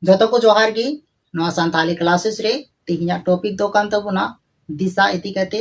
ᱡᱚᱛᱚ ᱠᱚ ᱡᱚᱦᱟᱨ ᱜᱮ ᱱᱚᱣᱟ ᱥᱟᱱᱛᱟᱞᱤ ᱠᱞᱟᱥᱮᱥ ᱨᱮ ᱛᱮᱦᱮᱧᱟᱜ ᱴᱚᱯᱤᱠ ᱫᱚ ᱠᱟᱱ ᱛᱟᱵᱚᱱᱟ ᱫᱤᱥᱟ ᱤᱫᱤ ᱠᱟᱛᱮ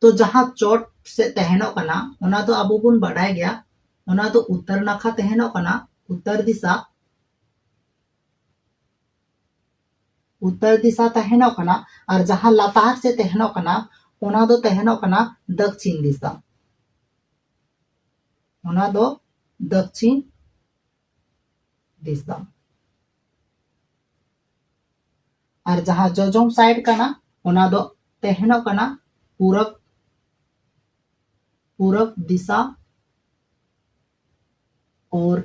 ᱛᱚ ᱡᱟᱦᱟᱸ ᱪᱚᱴ ᱥᱮ ᱛᱟᱦᱮᱱᱚᱜ ᱠᱟᱱᱟ ᱚᱱᱟ ᱫᱚ ᱟᱵᱚ ᱵᱚᱱ ᱵᱟᱰᱟᱭ ᱜᱮᱭᱟ ᱚᱱᱟ ᱫᱚ ᱩᱛᱛᱚᱨ ᱱᱟᱠᱷᱟ ᱛᱟᱦᱮᱱᱚᱜ ᱠᱟᱱᱟ ᱩᱛᱛᱚᱨ ᱫᱤᱥᱟ ᱩᱛᱛᱚᱨ ᱫᱤᱥᱟ ᱛᱟᱦᱮᱱᱚᱜ ᱠᱟᱱᱟ ᱟᱨ ᱡᱟᱦᱟᱸ ᱞᱟᱛᱟᱨ ᱥᱮ ᱛᱟᱦᱮᱱᱚᱜ ᱠᱟᱱᱟ ᱚᱱᱟ ᱫᱚ ᱛᱟᱦᱮᱱᱚᱜ ᱠᱟᱱᱟ ᱫᱚᱠᱠᱷᱤᱱ ᱫᱤᱥᱟ ᱚᱱᱟ ᱫᱚ ᱫᱚᱠᱠᱷᱤᱱ ᱫᱤᱥᱟ ᱟᱨ ᱡᱟᱦᱟᱸ ᱡᱚᱡᱚᱢ ᱥᱟᱭᱤᱰ ᱠᱟᱱᱟ ᱚᱱᱟ ᱫᱚ ᱛᱟᱦᱮᱱᱚᱜ ᱠᱟᱱᱟ ᱯᱩᱨᱚᱵ ᱯᱩᱨᱚᱵ ᱫᱤᱥᱟ ᱟᱨ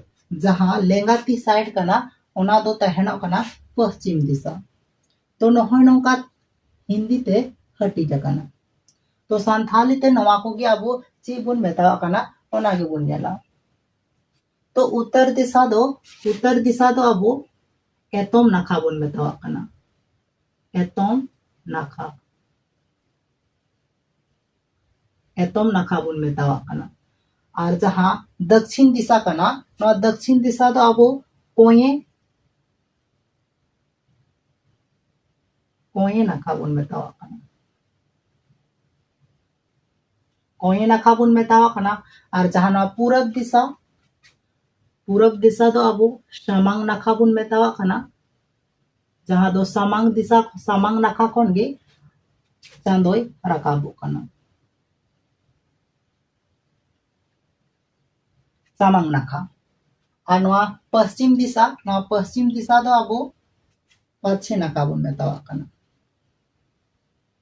ᱡᱟᱦᱟᱸ ᱞᱮᱸᱜᱟ ᱛᱤ ᱥᱟᱭᱤᱰ ᱠᱟᱱᱟ ᱚᱱᱟ ᱫᱚ ᱛᱟᱦᱮᱱᱚᱜ ᱠᱟᱱᱟ ᱯᱚᱥᱪᱤᱢ ᱫᱤᱥᱟ ᱛᱚ ᱱᱚᱜᱼᱚᱭ ᱱᱚᱝᱠᱟ ᱦᱤᱱᱫᱤ ᱛᱮ ᱦᱟᱹᱴᱤᱧ ᱟᱠᱟᱱᱟ ᱛᱚ ᱥᱟᱱᱛᱷᱟᱞᱤ ᱛᱮ ᱱᱚᱣᱟ ᱠᱚᱜᱮ ᱟᱵᱚ ᱪᱮᱫ ᱵᱚᱱ ᱢᱮᱛᱟᱣᱟᱜ ᱠᱟᱱᱟ ᱚᱱᱟ ᱜᱮᱵᱚᱱ ᱧᱮᱞᱟ ᱛᱚ ᱩᱛᱛᱚᱨ ᱫᱤᱥᱟ ᱫᱚ ᱩᱛᱛᱚᱨ ᱫᱤᱥᱟ ᱫᱚ ᱟᱵᱚ ᱮᱛᱚᱢ ᱱᱟᱠᱷᱟ ᱵᱚᱱ ᱢᱮᱛᱟᱣᱟᱜ ᱠᱟᱱᱟ ᱮᱛᱚᱢ ᱱᱟᱠᱷᱟ ᱮᱛᱚᱢ ᱱᱟᱠᱷᱟ ᱵᱚᱱ ᱢᱮᱛᱟᱣᱟᱜ ᱠᱟᱱᱟ ᱟᱨ ᱡᱟᱦᱟᱸ ᱫᱚᱠᱷᱤᱱ ᱫᱤᱥᱟ ᱠᱟᱱᱟ ᱱᱚᱣᱟ ᱫᱚᱠᱷᱤᱱ ᱫᱤᱥᱟ ᱫᱚ ᱟᱵᱚ ᱠᱚᱧᱮ ᱠᱚᱧᱮ ᱱᱟᱠᱷᱟ ᱵᱚᱱ ᱢᱮᱛᱟᱣᱟᱜ ᱠᱟᱱᱟ ᱠᱚᱧᱮ ᱱᱟᱠᱷᱟ ᱵᱚᱱ ᱢᱮᱛᱟᱣᱟᱜ ᱠᱟᱱᱟ ᱟᱨ ᱡᱟᱦᱟᱸ ᱱᱚᱣᱟ ᱯᱩᱨᱚᱵ ᱫᱤᱥᱟ ᱯᱩᱨᱚᱵ ᱫᱤᱥᱟ ᱫᱚ ᱟᱵᱚ ᱥᱟᱢᱟᱝ ᱱᱟᱠᱷᱟ ᱵᱚᱱ ᱢᱮᱛᱟᱣᱟᱜ ᱠᱟᱱᱟ ᱡᱟᱦᱟᱸ ᱫᱚ ᱥᱟᱢᱟᱝ ᱫᱤᱥᱟ ᱥᱟᱢᱟᱝ ᱱᱟᱠᱷᱟ ᱠᱷᱚᱱ ᱜᱮ ᱪᱟᱸᱫᱚᱭ ᱨᱟᱠᱟᱵᱚᱜ ᱠᱟᱱᱟ ᱥᱟᱢᱟᱝ ᱱᱟᱠᱷᱟ ᱟᱨ ᱱᱚᱣᱟ ᱯᱚᱥᱪᱤᱢ ᱫᱤᱥᱟ ᱱᱚᱣᱟ ᱯᱚᱥᱪᱤᱢ ᱫᱤᱥᱟ ᱫᱚ ᱟᱵᱚ ᱯᱟᱪᱷᱮ ᱱᱟᱠᱷᱟ ᱵᱚᱱ ᱢᱮᱛᱟᱣᱟᱜ ᱠᱟᱱᱟ